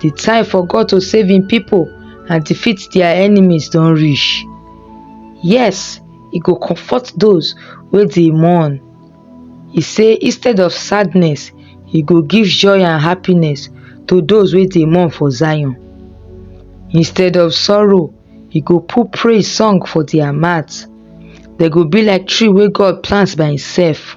di time for God to save im pipo and defeat dia enemies don reach. Yes, e go comfort those wey dey mourn. E say instead of sadness, e go give joy and happiness to those wey dey mourn for Zion. Instead of sorrow, e go put praise song for dia mouth. Dem go be like tree wey God plant by imself.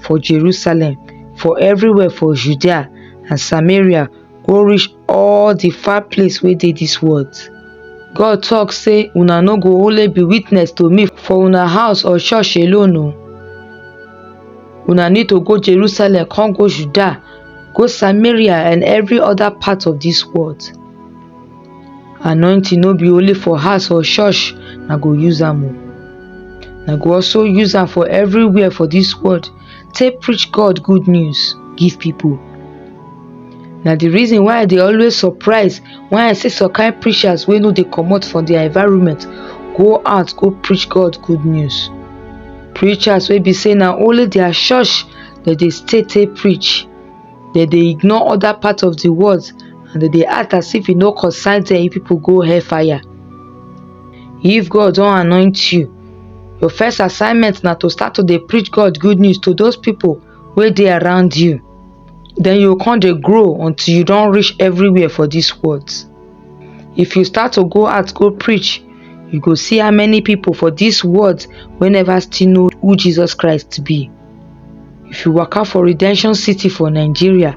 for jerusalem for evriwia for judea and samaria go reach all di far place wey dey dis world god tok say una no go only be witness to me for una house or church alone o una need to go jerusalem come go judea go samaria and evri oda part of dis world anointing no be only for house or church na go use am o na go also use am for everywhere for this world take preach god good news give people na the reason why i dey always surprise when i see some kind preachers wey no dey comot from their environment go out go preach god good news preachers wey be say na only their church dem dey stay take preach dem dey ignore oda parts of di world and dem dey act as if e no concern dem if pipo go hell fire if God don anoint you your first assignment na to start to dey preach God good news to those pipo wey dey around you then you come dey grow until you don reach everywhere for dis world if you start to go out go preach you go see how many pipo for dis world wey never still know who Jesus Christ be. If you waka for Redemption City for Nigeria,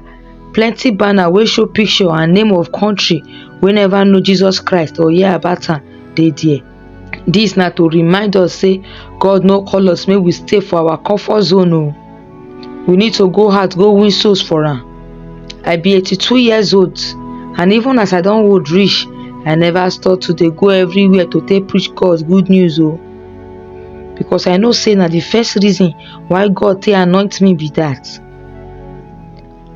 plenty banner wey show picture and name of country wey never know Jesus Christ or hear about am dey there. Dis na to remind us say God no call us make we stay for our comfort zone o. Oh. We need to go out go win souls for am. I be 82 years old and even as I don old reach, I never stop to dey go everywhere to take preach God good news o. Oh. because i know say na the first reason why god take anoint me be that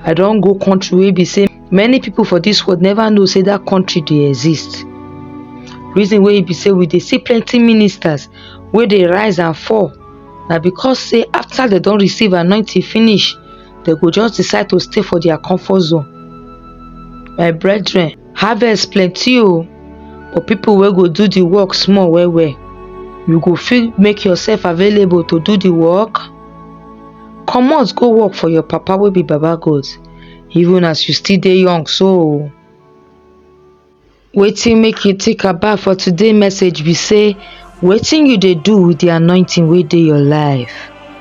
i don go country wey be say many people for this world never know say that country dey exist reason wey be say we dey see plenty ministers wey dey rise and fall na because say after dem don receive anointing finish dem go just decide to stay for their comfort zone my brethren Harvest plenty o but people wey go do the work small well well. You go fit make yourself available to do the work? Comot go work for your papa wey be baba God even as you still dey young so o. Wetin make you think about for today message be sey wetin you dey do with the anointing wey dey your life?